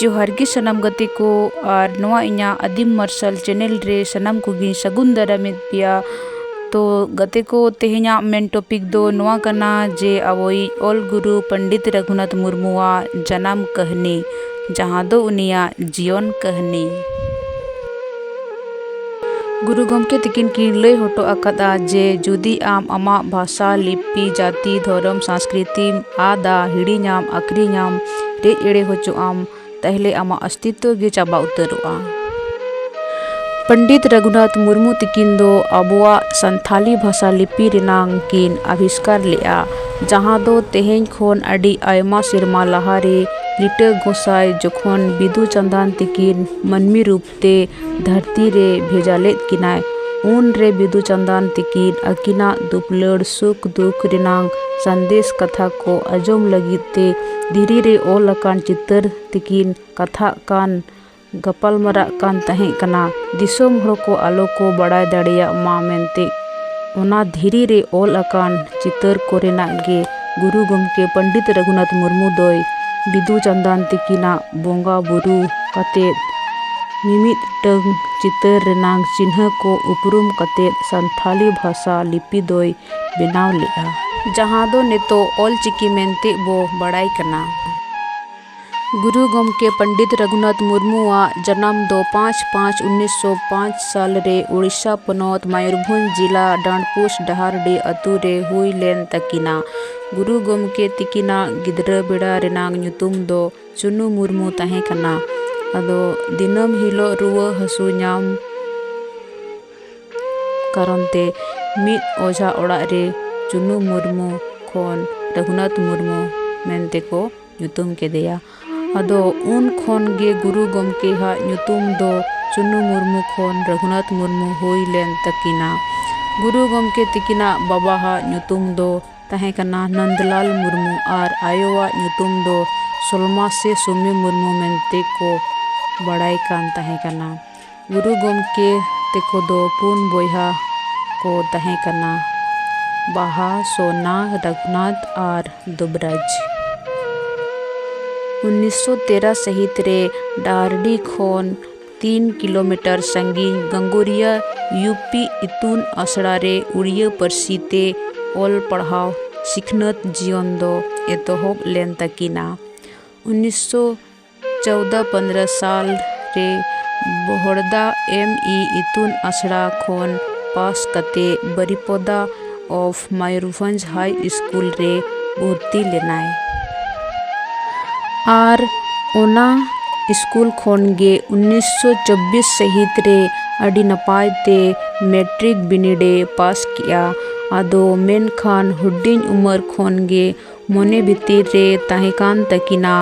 ᱡᱚᱦᱟᱨ ᱜᱮ ᱥᱟᱱᱟᱢ ᱜᱟᱛᱮ ᱠᱚ ᱟᱨ ᱱᱚᱣᱟ ᱤᱧᱟᱹᱜ ᱟᱹᱫᱤᱢ ᱢᱟᱨᱥᱟᱞ ᱪᱮᱱᱮᱞ ᱨᱮ ᱥᱟᱱᱟᱢ ᱠᱚᱜᱮ ᱥᱟᱹᱜᱩᱱ ᱫᱟᱨᱟᱢᱮᱫ ᱯᱮᱭᱟ ᱛᱚ ᱜᱟᱛᱮ ᱠᱚ ᱛᱮᱦᱮᱧᱟᱜ ᱢᱮᱱ ᱴᱚᱯᱤᱠ ᱫᱚ ᱱᱚᱣᱟ ᱠᱟᱱᱟ ᱡᱮ ᱟᱵᱚᱭᱤᱡ ᱚᱞ ᱜᱩᱨᱩ ᱯᱚᱱᱰᱤᱛ ᱨᱟᱹᱜᱷᱩᱱᱟᱛᱷ ᱢᱩᱨᱢᱩᱣᱟᱜ ᱡᱟᱱᱟᱢ ᱠᱟᱹᱦᱱᱤ ᱡᱟᱦᱟᱸ ᱫᱚ ᱩᱱᱤᱭᱟᱜ ᱡᱤᱭᱚᱱ ᱠᱟᱹᱦᱱᱤ ᱜᱩᱨᱩ ᱜᱚᱢᱠᱮ ᱛᱤᱠᱤᱱ ᱠᱤᱱ ᱞᱟᱹᱭ ᱦᱚᱴᱚ ᱟᱠᱟᱫᱼᱟ ᱡᱮ ᱡᱩᱫᱤ ᱟᱢ ᱟᱢᱟᱜ ᱵᱷᱟᱥᱟ ᱞᱤᱯᱤ ᱡᱟᱹᱛᱤ ᱫᱷᱚᱨᱚᱢ ᱥᱟᱥᱠᱨᱤᱛᱤᱢ ᱟᱫᱟ ᱦᱤᱲᱤᱧᱟᱢ ᱟᱹᱠᱷᱨᱤᱧᱟᱢ ᱨᱮᱡ ᱮᱲᱮ ᱦᱚᱪᱚᱜ ᱟᱢ ᱛᱟᱦᱚᱞᱮ ᱟᱢᱟᱜ ᱚᱥᱛᱤᱛᱛᱚ ᱜᱮ ᱪᱟᱵᱟ ᱩᱛᱟᱹᱨᱚᱜᱼᱟ ᱯᱚᱱᱰᱤᱛ ᱨᱟᱹᱜᱷᱩᱱᱟᱛᱷ ᱢᱩᱨᱢᱩ ᱛᱤᱠᱤᱱ ᱫᱚ ᱟᱵᱚᱣᱟᱜ ᱥᱟᱱᱛᱷᱟᱞᱤ ᱵᱷᱟᱥᱟ ᱞᱤᱯᱤ ᱨᱮᱱᱟᱝ ᱠᱤᱱ ᱟᱵᱤᱥᱠᱟᱨ ᱞᱮᱫᱼᱟ ᱡᱟᱦᱟᱸ ᱫᱚ ᱛᱮᱦᱮᱧ ᱠᱷᱚᱱ ᱟᱹᱰᱤ ᱟᱭᱢᱟ ᱥᱮᱨᱢᱟ ᱞᱟᱦᱟ ᱨᱮ ᱞᱤᱴᱟᱹ ᱜᱚᱸᱥᱟᱭ ᱡᱚᱠᱷᱚᱱ ᱵᱤᱫᱩ ᱪᱟᱸᱫᱟᱱ ᱛᱤᱠᱤᱱ ᱢᱟᱹᱱᱢᱤ ᱨᱩᱯ ᱛᱮ ᱫᱷᱟᱹᱨᱛᱤ ᱨᱮ ᱵᱷᱮᱡᱟ ᱞᱮᱫ ᱠᱤᱱᱟᱭ ᱩᱱ ᱨᱮ ᱵᱤᱫᱩ ᱪᱟᱸᱫᱟᱱ ᱛᱤᱠᱤᱱ ᱟᱹᱠᱤᱱᱟᱜ ᱫᱩᱯᱩᱞᱟᱹᱲ ᱥᱩᱠ ᱫᱩᱠ ᱨᱮᱱᱟᱝ ᱥᱟᱸᱫᱮᱥ ᱠᱟᱛᱷᱟ ᱠᱚ ᱟᱸᱡᱚᱢ ᱞᱟᱹᱜᱤᱫ ᱛᱮ ᱫᱷᱤᱨᱤ ᱨᱮ ᱚᱞ ᱟᱠᱟᱱ ᱪᱤᱛᱟᱹᱨ ᱛᱮᱠᱤᱱ ᱠᱟᱛᱷᱟᱜ ᱠᱟᱱ ᱜᱟᱯᱟᱞ ᱢᱟᱨᱟᱜ ᱠᱟᱱ ᱛᱟᱦᱮᱸ ᱠᱟᱱᱟ ᱫᱤᱥᱚᱢ ᱦᱚᱲ ᱠᱚ ᱟᱞᱚ ᱠᱚ ᱵᱟᱲᱟᱭ ᱫᱟᱲᱮᱭᱟᱜ ᱢᱟ ᱢᱮᱱᱛᱮ ᱚᱱᱟ ᱫᱷᱤᱨᱤ ᱨᱮ ᱚᱞ ᱟᱠᱟᱱ ᱪᱤᱛᱟᱹᱨ ᱠᱚᱨᱮᱱᱟᱜ ᱜᱮ ᱜᱩᱨᱩ ᱜᱚᱢᱠᱮ ᱯᱚᱱᱰᱤᱛ ᱨᱟᱹᱜᱷᱩᱱᱟᱛᱷ ᱢᱩᱨᱢᱩ ᱫᱚᱭ ᱵᱤᱫᱩ ᱪᱟᱸᱫᱟᱱ ᱛᱤᱠᱤᱱᱟᱜ ᱵᱚᱸᱜᱟ ᱵᱩᱨᱩ ᱠᱟᱛᱮ ᱢᱤᱢᱤᱫᱴᱟᱹᱝ ᱪᱤᱛᱟᱹᱨ ᱨᱮᱱᱟᱜ ᱪᱤᱱᱦᱟᱹ ᱠᱚ ᱩᱯᱨᱩᱢ ᱠᱟᱛᱮ ᱥᱟᱱᱛᱷᱟᱞᱤ ᱵᱷᱟᱥᱟ ᱞᱤᱯᱤ ᱫᱚᱭ ᱵᱮᱱᱟᱣ ᱞᱮᱫᱼᱟ ᱡᱟᱦᱟᱸ ᱫᱚ ᱱᱤᱛᱚᱜ ᱚᱞ ᱪᱤᱠᱤ ᱢᱮᱱᱛᱮ ᱵᱚ ᱵᱟᱲᱟᱭ ᱠᱟᱱᱟ ᱜᱩᱨᱩ ᱜᱚᱢᱠᱮ ᱯᱚᱱᱰᱤᱛ ᱨᱚᱜᱷᱩᱱᱟᱛᱷ ᱢᱩᱨᱢᱩ ᱟᱜ ᱡᱟᱱᱟᱢ ᱫᱚ ᱯᱟᱸᱪ ᱯᱟᱸᱪ ᱩᱱᱤᱥ ᱥᱚ ᱯᱟᱸᱪ ᱥᱟᱞ ᱨᱮ ᱳᱰᱤᱥᱟ ᱯᱚᱱᱚᱛ ᱢᱚᱭᱩᱨᱵᱷᱚᱸᱡᱽ ᱡᱤᱞᱟ ᱰᱟᱸᱰᱯᱩᱥ ᱰᱟᱦᱟᱨᱰᱤ ᱟᱹᱛᱩ ᱨᱮ ᱦᱩᱭ ᱞᱮᱱ ᱛᱟᱹᱠᱤᱱᱟ᱾ ᱜᱩᱨᱩ ᱜᱚᱢᱠᱮ ᱛᱤᱠᱤᱱᱟᱜ ᱜᱤᱫᱽᱨᱟᱹ ᱵᱮᱲᱟ ᱨᱮᱱᱟᱜ ᱧᱩᱛᱩᱢ ᱫᱚ ᱪᱩᱱᱩ ᱢᱩᱨᱢᱩ ᱛᱟᱦᱮᱸ ᱠᱟᱱᱟ᱾ ᱟᱫᱚ ᱫᱤᱱᱟᱹᱢ ᱦᱤᱞᱚᱜ ᱨᱩᱣᱟᱹ ᱦᱟᱹᱥᱩ ᱧᱟᱢ ᱠᱟᱨᱚᱱ ᱛᱮ ᱢᱤᱫ ᱚᱡᱷᱟ ᱚᱲᱟᱜ ᱨᱮ ᱪᱩᱱᱩ ᱢᱩᱨᱢᱩ ᱠᱷᱚᱱ ᱨᱚᱜᱷᱩᱱᱟᱛᱷ ᱢᱩᱨᱢᱩ ᱢᱮᱱᱛᱮ ᱠᱚ ᱧᱩᱛᱩᱢ ᱠᱮᱫᱮᱭᱟ᱾ ᱟᱫᱚ ᱩᱱ ᱠᱷᱚᱱ ᱜᱮ ᱜᱩᱨᱩ ᱜᱚᱢᱠᱮ ᱦᱟᱜ ᱧᱩᱛᱩᱢ ᱫᱚ ᱪᱩᱱᱩ ᱢᱩᱨᱢᱩ ᱠᱷᱚᱱ ᱨᱟᱹᱜᱷᱩᱱᱟᱛᱷ ᱢᱩᱨᱢᱩ ᱦᱩᱭ ᱞᱮᱱ ᱛᱟᱹᱠᱤᱱᱟ᱾ ᱜᱩᱨᱩ ᱜᱚᱢᱠᱮ ᱛᱤᱠᱤᱱᱟᱜ ᱵᱟᱵᱟ ᱦᱟᱜ ᱧᱩᱛᱩᱢ ᱫᱚ ᱛᱟᱦᱮᱸ ᱠᱟᱱᱟ ᱱᱚᱱᱫᱽᱞᱟᱞ ᱢᱩᱨᱢᱩ ᱟᱨ ᱟᱭᱳ ᱟᱜ ᱧᱩᱛᱩᱢ ᱫᱚ ᱥᱚᱞᱢᱟ ᱥᱮ ᱥᱩᱢᱤ ᱢᱩᱨᱢᱩ ᱢᱮᱱᱛᱮ ᱠᱚ ᱵᱟᱲᱟᱭ ᱠᱟᱱ ᱛᱟᱦᱮᱸ ᱠᱟᱱᱟ᱾ ᱜᱩᱨᱩ ᱜᱚᱢᱠᱮ ᱛᱮᱠᱚ ᱫᱚ ᱯᱩᱱ ᱵᱚᱭᱦᱟ ᱠᱚ ᱛᱟᱦᱮᱸ ᱠᱟᱱᱟ ᱵᱟᱦᱟ ᱥᱳᱱᱟ ᱨᱟᱹᱜᱷᱩᱱᱟᱛᱷ ᱟᱨ ᱫᱩᱵᱽᱨᱟᱡᱽ ᱩᱱᱤᱥᱥᱚ ᱛᱮᱨᱟ ᱥᱟᱹᱦᱤᱛ ᱨᱮ ᱰᱟᱦᱟᱨᱰᱤ ᱠᱷᱚᱱ ᱛᱤᱱ ᱠᱤᱞᱳᱢᱤᱴᱟᱨ ᱥᱟᱺᱜᱤᱧ ᱜᱟᱝᱜᱳᱨᱤᱭᱟ ᱤᱭᱩ ᱯᱤ ᱤᱛᱩᱱ ᱟᱥᱲᱟ ᱨᱮ ᱩᱲᱤᱭᱟᱹ ᱯᱟᱹᱨᱥᱤ ᱛᱮ ᱚᱞ ᱯᱟᱲᱦᱟᱣ ᱥᱤᱠᱷᱱᱟᱹᱛ ᱡᱤᱭᱚᱱ ᱫᱚ ᱮᱛᱚᱦᱚᱵ ᱞᱮᱱ ᱛᱟᱹᱠᱤᱱᱟ ᱩᱱᱤᱥᱥᱚ ᱪᱳᱣᱫᱟ ᱯᱚᱱᱫᱨᱚ ᱥᱟᱞ ᱨᱮ ᱵᱚᱦᱚᱲᱫᱟ ᱮᱢ ᱤ ᱤᱛᱩᱱ ᱟᱥᱲᱟ ᱠᱷᱚᱱ ᱯᱟᱥ ᱠᱟᱛᱮ Baripada of Mayurbhanj high school ᱨᱮ ᱵᱷᱚᱨᱛᱤ ᱞᱮᱱᱟᱭ ᱟᱨ ᱚᱱᱟ ᱤᱥᱠᱩᱞ ᱠᱷᱚᱱ ᱜᱮ ᱩᱱᱤᱥᱥᱚ ᱪᱚᱵᱽᱵᱤᱥ ᱥᱟᱹᱦᱤᱛ ᱨᱮ ᱟᱹᱰᱤ ᱱᱟᱯᱟᱭ ᱛᱮ ᱢᱮᱴᱨᱤᱠ ᱵᱤᱱᱤᱰ ᱮ ᱯᱟᱥ ᱠᱮᱜᱼᱟ ᱟᱫᱚ ᱢᱮᱱᱠᱷᱟᱱ ᱦᱩᱰᱤᱧ ᱩᱢᱮᱨ ᱠᱷᱚᱱ ᱜᱮ ᱢᱚᱱᱮ ᱵᱷᱤᱛᱤᱨ ᱨᱮ ᱛᱟᱦᱮᱸ ᱠᱟᱱ ᱛᱟᱹᱠᱤᱱᱟ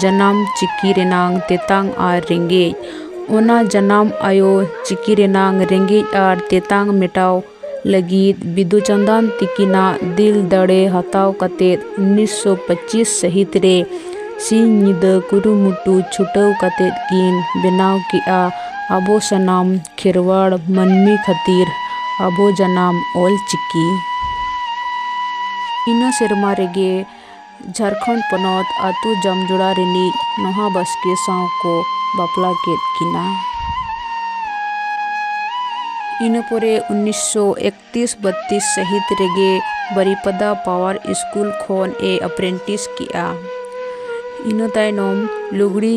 ᱡᱟᱱᱟᱢ ᱪᱤᱠᱤ ᱨᱮᱱᱟᱝ ᱛᱮᱛᱟᱝ ᱟᱨ ᱨᱮᱸᱜᱮᱡ ᱚᱱᱟ ᱡᱟᱱᱟᱢ ᱟᱭᱳ ᱪᱤᱠᱤ ᱨᱮᱱᱟᱝ ᱨᱮᱸᱜᱮᱡ ᱟᱨ ᱛᱮᱛᱟᱝ ᱢᱮᱴᱟᱣ ᱞᱟᱹᱜᱤᱫ ᱵᱤᱫᱩ ᱪᱟᱸᱫᱟᱱ ᱛᱤᱠᱤᱱᱟᱜ ᱫᱤᱞ ᱫᱟᱲᱮ ᱦᱟᱛᱟᱣ ᱠᱟᱛᱮ ᱩᱱᱤᱥ ᱥᱚ ᱯᱚᱸᱪᱤᱥ ᱥᱟᱹᱦᱤᱛ ᱨᱮ ᱥᱤᱧ ᱧᱤᱫᱟᱹ ᱠᱩᱨᱩᱢᱩᱴᱩ ᱪᱷᱩᱴᱟᱹᱣ ᱠᱟᱛᱮ ᱠᱤᱱ ᱵᱮᱱᱟᱣ ᱠᱮᱫᱼᱟ ᱟᱵᱚ ᱥᱟᱱᱟᱢ ᱠᱷᱮᱨᱣᱟᱲ ᱢᱟᱹᱱᱢᱤ ᱠᱷᱟᱹᱛᱤᱨ ᱟᱵᱚ ᱡᱟᱱᱟᱢ ᱚᱞ ᱪᱤᱠᱤ ᱤᱱᱟᱹ ᱥᱮᱨᱢᱟ ᱨᱮᱜᱮ ᱡᱷᱟᱲᱠᱷᱚᱸᱰ ᱯᱚᱱᱚᱛ ᱟᱛᱳ ᱡᱟᱢᱡᱚᱲᱟ ᱨᱤᱱᱤᱡ ᱱᱚᱦᱟ ᱵᱟᱥᱠᱮ ᱥᱟᱶ ᱠᱚ ᱵᱟᱯᱞᱟ ᱠᱮᱫ ᱠᱤᱱᱟ ᱤᱱᱟᱹ ᱯᱚᱨᱮ ᱩᱱᱤᱥᱥᱚ ᱮᱠᱛᱨᱤᱥ ᱵᱟᱛᱛᱨᱤᱥ ᱥᱟᱹᱦᱤᱛ ᱨᱮᱜᱮ ᱵᱟᱨᱤᱯᱟᱫᱟ ᱯᱟᱣᱟᱨ ᱥᱠᱩᱞ ᱠᱷᱚᱱ ᱮ ᱟᱯᱨᱮᱱᱴᱤᱥ ᱠᱮᱜᱼᱟ ᱤᱱᱟᱹ ᱛᱟᱭᱱᱚᱢ ᱞᱩᱜᱽᱲᱤ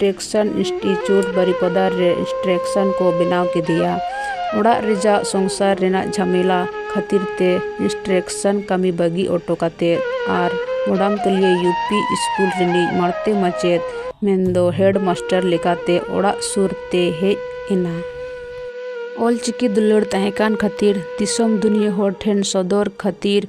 ᱴᱮᱠᱥᱚᱱ ᱤᱱᱥᱴᱤᱴᱭᱩᱴ ᱵᱟᱨᱤᱯᱟᱫᱟ ᱨᱮ ᱥᱴᱨᱮᱠᱥᱚᱱ ᱠᱚ ᱵᱮᱱᱟᱣ ᱠᱮᱫᱮᱭᱟ᱾ ᱚᱲᱟᱜ ᱨᱮᱭᱟᱜ ᱥᱚᱝᱥᱟᱨ ᱨᱮᱱᱟᱜ ᱡᱷᱟᱢᱮᱞᱟ ᱠᱷᱟᱹᱛᱤᱨ ᱛᱮ ᱤᱱᱥᱴᱨᱮᱠᱥᱚᱱ ᱠᱟᱹᱢᱤ ᱵᱟᱹᱜᱤ ᱚᱴᱚ ᱠᱟᱛᱮ ᱟᱨ ᱢᱚᱰᱟᱢᱛᱚᱞᱤᱭᱟᱹ ᱭᱩ ᱯᱤ ᱤᱥᱠᱩᱞ ᱨᱤᱱᱤᱡ ᱢᱟᱬᱛᱮ ᱢᱟᱪᱮᱛ ᱢᱮᱱᱫᱚ ᱦᱮᱰ ᱢᱟᱥᱴᱟᱨ ᱞᱮᱠᱟᱛᱮ ᱚᱲᱟᱜ ᱥᱩᱨ ᱛᱮ ᱦᱮᱡ ᱮᱱᱟ᱾ ᱚᱞ ᱪᱤᱠᱤ ᱫᱩᱞᱟᱹᱲ ᱛᱟᱦᱮᱸ ᱠᱟᱱ ᱠᱷᱟᱹᱛᱤᱨ ᱫᱤᱥᱚᱢ ᱫᱩᱱᱤᱭᱟᱹ ᱦᱚᱲ ᱴᱷᱮᱱ ᱥᱚᱫᱚᱨ ᱠᱷᱟᱹᱛᱤᱨ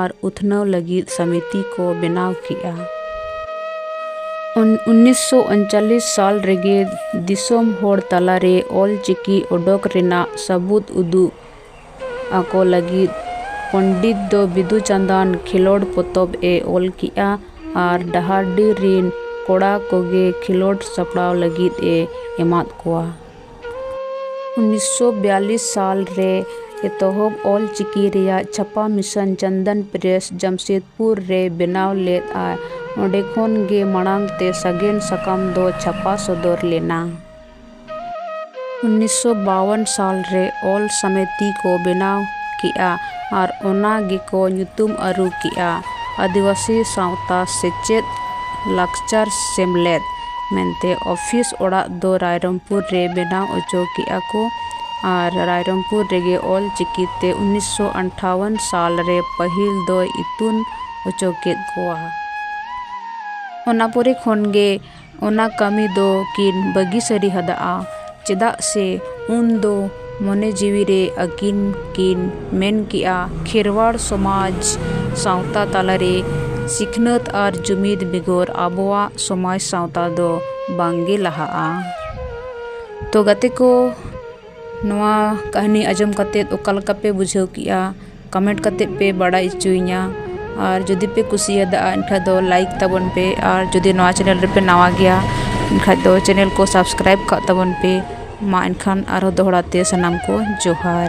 ᱟᱨ ᱩᱛᱷᱱᱟᱹᱣ ᱞᱟᱹᱜᱤᱫ ᱥᱟᱢᱤᱛᱤ ᱠᱚ ᱵᱮᱱᱟᱣ ᱠᱮᱫᱼᱟ᱾ ᱩᱱᱤᱥ ᱥᱚ ᱩᱱᱪᱟᱞᱤᱥ ᱥᱟᱞ ᱨᱮᱜᱮ ᱫᱤᱥᱚᱢ ᱦᱚᱲ ᱛᱟᱞᱟ ᱨᱮ ᱚᱞ ᱪᱤᱠᱤ ᱚᱰᱚᱠ ᱨᱮᱱᱟᱜ ᱥᱟᱹᱵᱩᱫᱽ ᱩᱫᱩᱜ ᱟᱠᱚ ᱞᱟᱹᱜᱤᱫ ᱯᱚᱱᱰᱤᱛ ᱫᱚ ᱵᱤᱫᱩᱼᱪᱟᱸᱫᱟᱱ ᱠᱷᱮᱞᱚᱸᱰ ᱯᱚᱛᱚᱵ ᱮ ᱚᱞ ᱠᱮᱫᱼᱟ ᱟᱨ ᱰᱟᱦᱟᱨᱰᱤ ᱨᱤᱱ ᱠᱚᱲᱟ ᱠᱚᱜᱮ ᱠᱷᱮᱞᱚᱸᱰ ᱥᱟᱯᱲᱟᱣ ᱞᱟᱹᱜᱤᱫ ᱮ ᱮᱢᱟᱫ ᱠᱚᱣᱟ᱾ ᱩᱱᱤᱥᱥᱚ ᱵᱤᱭᱟᱞᱞᱤᱥ ᱥᱟᱞ ᱨᱮ ᱮᱛᱚᱦᱚᱵ ᱚᱞ ᱪᱤᱠᱤ ᱨᱮᱭᱟᱜ ᱪᱷᱟᱯᱟ ᱢᱤᱥᱚᱱ ᱪᱚᱱᱫᱚᱱ ᱯᱨᱮᱥ ᱡᱟᱢᱥᱮᱫᱽᱯᱩᱨ ᱨᱮ ᱵᱮᱱᱟᱣ ᱞᱮᱫ ᱟᱭ ᱚᱸᱰᱮ ᱠᱷᱚᱱ ᱜᱮ ᱢᱟᱲᱟᱝ ᱛᱮ ᱥᱟᱜᱮᱱ ᱥᱟᱠᱟᱢ ᱫᱚ ᱪᱷᱟᱯᱟ ᱥᱚᱫᱚᱨ ᱞᱮᱱᱟ᱾ ᱩᱱᱤᱥᱥᱚ ᱵᱟᱣᱚᱱ ᱥᱟᱞ ᱨᱮ ᱚᱞ ᱥᱟᱢᱮᱛᱤ ᱠᱚ ᱵᱮᱱᱟᱣ ᱠᱮᱫᱼᱟ ᱟᱨ ᱚᱱᱟ ᱜᱮᱠᱚ ᱧᱩᱛᱩᱢ ᱟᱹᱨᱩ ᱠᱮᱫᱼᱟ ᱟᱹᱫᱤᱵᱟᱹᱥᱤ ᱥᱟᱶᱛᱟ ᱥᱮᱪᱮᱫ ᱞᱟᱠᱪᱟᱨ ᱥᱮᱢᱞᱮᱫ᱾ ᱢᱮᱱᱛᱮ ᱚᱯᱷᱤᱥ ᱚᱲᱟᱜ ᱫᱚ ᱨᱟᱭᱨᱚᱝᱯᱩᱨ ᱨᱮ ᱵᱮᱱᱟᱣ ᱚᱪᱚ ᱠᱮᱫᱼᱟ ᱠᱚ ᱟᱨ ᱨᱟᱭᱨᱚᱝᱯᱩᱨ ᱨᱮᱜᱮ ᱚᱞ ᱪᱤᱠᱤ ᱛᱮ ᱩᱱᱤᱥᱥᱚ ᱟᱴᱷᱟᱣᱚᱱ ᱥᱟᱞ ᱨᱮ ᱯᱟᱹᱦᱤᱞ ᱫᱚᱭ ᱤᱛᱩᱱ ᱚᱪᱚ ᱠᱮᱫ ᱠᱚᱣᱟ ᱚᱱᱟ ᱯᱚᱨᱮ ᱠᱷᱚᱱ ᱜᱮ ᱚᱱᱟ ᱠᱟᱹᱢᱤ ᱫᱚ ᱠᱤᱱ ᱵᱟᱹᱜᱤ ᱥᱟᱹᱨᱤ ᱟᱫᱟᱜᱼᱟ ᱪᱮᱫᱟᱜ ᱥᱮ ᱩᱱ ᱫᱚ ᱢᱚᱱᱮ ᱡᱤᱣᱤ ᱨᱮ ᱟᱹᱠᱤᱱ ᱠᱤᱱ ᱢᱮᱱ ᱠᱮᱫᱼᱟ ᱠᱷᱮᱨᱣᱟᱲ ᱥᱚᱢᱟᱡᱽ ᱥᱟᱶᱛᱟ ᱛᱟᱞᱟ ᱨᱮ ᱥᱤᱠᱷᱱᱟᱹᱛ ᱟᱨ ᱡᱩᱢᱤᱫᱽ ᱵᱮᱜᱚᱨ ᱟᱵᱚᱣᱟᱜ ᱥᱚᱢᱟᱡᱽ ᱥᱟᱶᱛᱟ ᱫᱚ ᱵᱟᱝ ᱜᱮ ᱞᱟᱦᱟᱜᱼᱟ ᱛᱚ ᱜᱟᱛᱮ ᱠᱚ ᱱᱚᱣᱟ ᱠᱟᱹᱦᱱᱤ ᱟᱸᱡᱚᱢ ᱠᱟᱛᱮᱫ ᱚᱠᱟ ᱞᱮᱠᱟ ᱯᱮ ᱵᱩᱡᱷᱟᱹᱣ ᱠᱮᱫᱼᱟ ᱠᱚᱢᱮᱱᱴ ᱠᱟᱛᱮᱫ ᱯᱮ ᱵᱟᱲᱟᱭ ᱦᱚᱪᱚᱧᱟ ᱟᱨ ᱡᱩᱫᱤ ᱯᱮ ᱠᱩᱥᱤᱭᱟᱫᱟ ᱮᱱᱠᱷᱟᱱ ᱫᱚ ᱞᱟᱭᱤᱠ ᱛᱟᱵᱚᱱ ᱯᱮ ᱟᱨ ᱡᱩᱫᱤ ᱱᱚᱣᱟ ᱪᱮᱱᱮᱞ ᱨᱮᱯᱮ ᱱᱟᱣᱟ ᱜᱮᱭᱟ ᱮᱱᱠᱷᱟᱱ ᱫᱚ ᱪᱮᱱᱮᱞ ᱠᱚ ᱥᱟᱵᱥᱠᱨᱟᱭᱤᱵᱽ ᱠᱟᱜ ᱛᱟᱵᱚᱱ ᱯᱮ ᱢᱟ ᱮᱱᱠᱷᱟᱱ ᱟᱨᱦᱚᱸ ᱫᱚᱦᱲᱟᱛᱮ ᱥᱟᱱᱟᱢ ᱠᱚ ᱡᱚᱦᱟᱨ